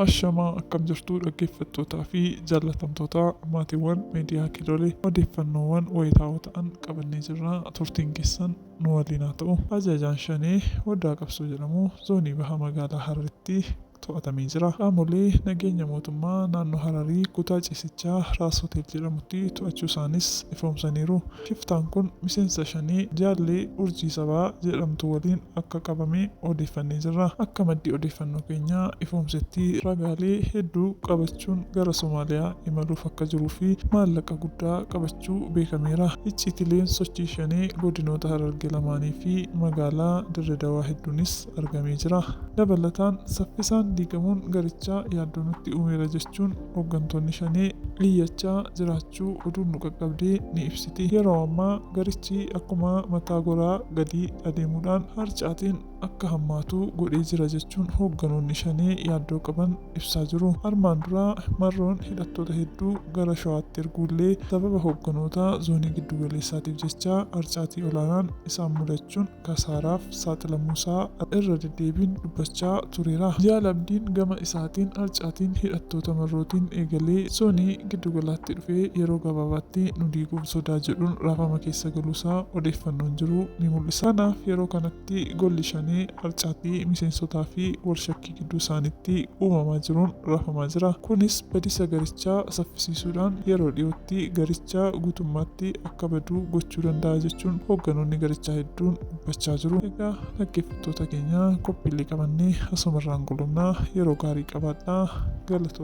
Ashamaa akkam jirtuu dhaggeeffattootaa fi jaallatamtootaa maatiiwwan miidiyaa kiilolee odeeffannoowwan wayitaawoo ta'an qabannee jirra turtiin keessan nu waliin haa ta'u. Ajajaan Shanee Odaa Qabsoo jedhamu zoonii baha magaalaa Hararitti to'atamee jira. Qaamolee nageenya mootummaa naannoo Hararii kutaa ciisichaa Raas Hotel jedhamutti to'achuusaanis ifoomsaniiru. Shiftaan kun miseensa Shanee jaallee Urjii Sabaa jedhamtu waliin akka qabame odeeffannee jirra. Akka maddi odeeffannoo keenyaa ifoomsetti ragaalee hedduu qabachuun gara Somaaliyaa imaluuf akka jiruu fi maallaqa guddaa qabachuu beekameera. Icciitileen sochii Shanee godinoota Hararge lamaanii fi magaalaa Dirre Dawaa hedduunis argamee jira. Dabalataan saffisaan diigamuun garichaa yaaddoo nutti uumeera jechuun hoggantoonni Shanee iyyachaa jiraachuu oduun nu qaqqabde ni ibsiti. Yeroo ammaa garichi akkuma mataa goraa gadi adeemuudhaan harcaatiin akka hammaatu godhee jira jechuun hogganoonni Shanee yaaddoo qaban ibsaa jiru. Armaan dura Marroon hidhattoota hedduu gara Shawaatti erguullee sababa hogganoota Zoonii Giddugaleessaatiif jecha harcaatii olaanaan isaan mudachuun kasaaraaf saaxilamuusaa irra deddeebiin dubbachaa tureera. Jaal Abdiin gama isaatiin harcaatiin hidhattoota Marrootiin eegalee zoonii giddugalaatti dhufee yeroo gabaabaatti nu diiguuf sodaa jedhuun raafama keessa galuusaa odeeffannoon jiru ni mul'isa. Kanaaf yeroo kanatti golli shanee harcaatii miseensotaafi walshakkii. gidduu isaaniitti uumamaa jiruun rafamaa jira. Kunis badiisa garichaa saffisiisuudhaan yeroo dhiyootti garicha guutummaatti akka badu gochuu danda'a jechuun hoogganoonni garichaa hedduun dubbachaa jiru. Egaa dhaggeeffattoota keenya qophiilee qabannee asumarraan goolabna. Yeroo gaarii qabaadhaa. Galatoomaa.